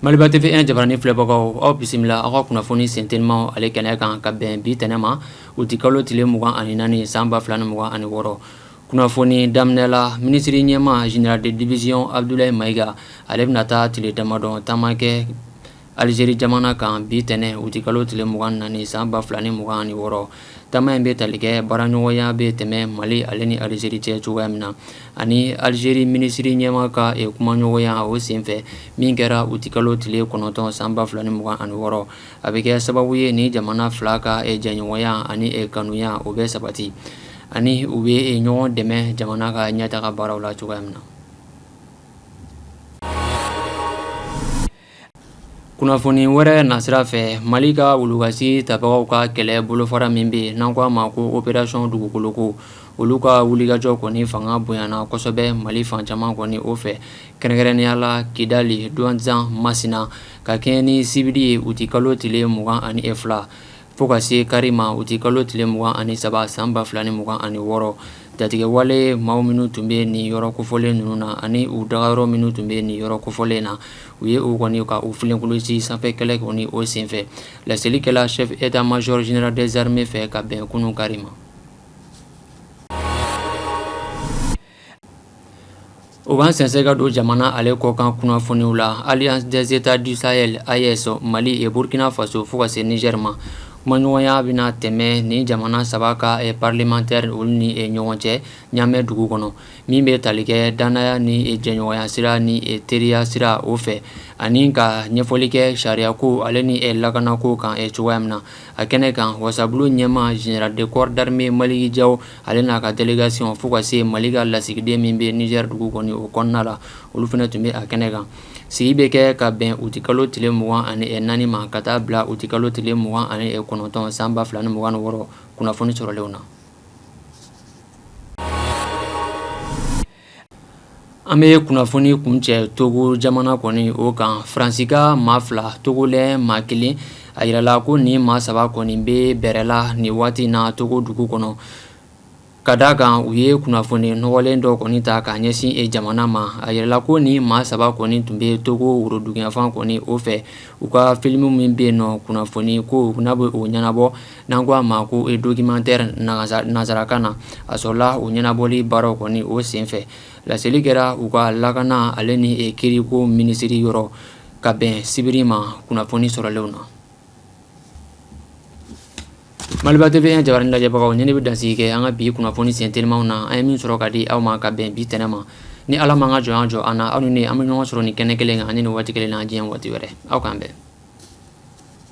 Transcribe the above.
Maliba TV jabaranin filɛbagaw aw bisimila aw ka kunnafoni sentelima ale kɛnɛ kan ka bɛn bi tɛnɛn ma uti kalo tile mugan ani naani san ba fila ni mugan ani wɔɔrɔ kunnafoni daminɛ la minisiri ɲɛma général de division Abdoulaye Maïga ale bɛna taa tile damadɔ taama kɛ Alizeri jamana kan bi tɛnɛn uti kalo tile mugan ni naani san ba fila ni mugan ani wɔɔrɔ taama in bɛ tali kɛ baaraɲɔgɔnya bɛ tɛmɛ mali ale ni alizeri cɛ cogoya min na ani alizeri minisiriri ɲɛma ka kumaɲɔgɔnya o senfɛ min kɛra uti kalo tile kɔnɔntɔn san ba fila ni mugan ani wɔɔrɔ a bɛ kɛ sababu ye nin jamana fila ka jɛɲɔgɔnya ani kanuya o bɛ sabati ani u bɛ ɲɔgɔn dɛmɛ jamana ka ɲɛtaga baaraw la cogoya min na kunnafoni wɛrɛ nasira fɛ mali ka wulukasi tabagaw ka kɛlɛ bolofara min bɛ yen n'an k'a ma ko opération dugukoloko olu ka wulikajɔ kɔni fanga bonyana kosɛbɛ mali fan caman kɔni o fɛ kɛrɛnkɛrɛnnenya la kidali Douentza masina ka kɛɲɛ ni sibiri ye uti kalo tile mugan ani e fila Fo ka se kari ma uti kalo tile mugan ani saba san ba fila ni mugan ani wɔɔrɔ jatigɛwale maaw minnu tun bɛ nin yɔrɔ kofɔlen ninnu na ani u daga yɔrɔ minnu tun bɛ nin yɔrɔ kofɔlen na u ye u kɔni ka u filenkolonci sanfɛ kɛlɛ kɔni o senfɛ laseli kɛla chef état-major général des armées fɛ ka bɛn kunun kari ma O b'an sɛnsɛn ka don jamana ale kɔkan kunnafoniw la Alliance des États du Sahel AES mali burukina faso fo ka se nizɛri ma kumaɲɔgɔnya bɛna tɛmɛ nin jamana saba ka parlementaire olu ni ɲɔgɔn cɛ ɲamɛ dugu kɔnɔ min bɛ tali kɛ dannaya ni jɛɲɔgɔnya sira ni teriya sira o fɛ ani ka ɲɛfɔli kɛ sariyako ale ni lakanako kan cogoya min na a kɛnɛ kan wasabulon ɲɛma général de corps d'armée Maliki Jaw ale n'a ka délégation fo ka se mali ka lasigiden min bɛ nizɛri dugu kɔni o kɔnɔna la olu fana tun bɛ a kɛnɛ kan sigi bɛ kɛ ka bɛn uti kalo tile mugan ani naani ma ka taa bila uti kalo tile mugan ani kɔnɔntɔn san ba fila ni mugan ani wɔɔrɔ kunnafoni sɔrɔlenw na An bɛ kunnafoni kuncɛ togo jamana kɔni o kan faransika maa fila togolɛ maa kelen a yirala ko nin maa saba kɔni bɛ bɛrɛla nin waati in na togo dugu kɔnɔ ka d' a kan u ye kunnafoni nɔgɔlen dɔ kɔni ta ka ɲɛsin e jamana ma a yirala ko nin maa saba kɔni tun bɛ togo woroduguyanfan kɔni o fɛ u ka filimu min bɛ yen nɔ kunnafoni ko n'a bɛ o ɲɛnabɔ N'an ko a ma ko e documentaire nanzarakan na a sɔrɔla o ɲɛnabɔli baaraw kɔni o senfɛ laseli kɛra u ka lakana ale ni kiiriko minisiri yɔrɔ ka bɛn sibiri ma kunnafoni sɔrɔlenw na Maliba TV jabarani lajɛbagaw nin ne bɛ dansigi kɛ an ka bi kunnafoni sentelimaw na an ye min sɔrɔ ka di aw ma ka bɛn bi tɛnɛn ma ni Ala m'a ka jɔnya jɔ an na aw ni ne an bɛ ɲɔgɔn sɔrɔ nin kɛnɛ kelen kan ani nin waati kelen na diɲɛ waati wɛrɛ aw k' an bɛn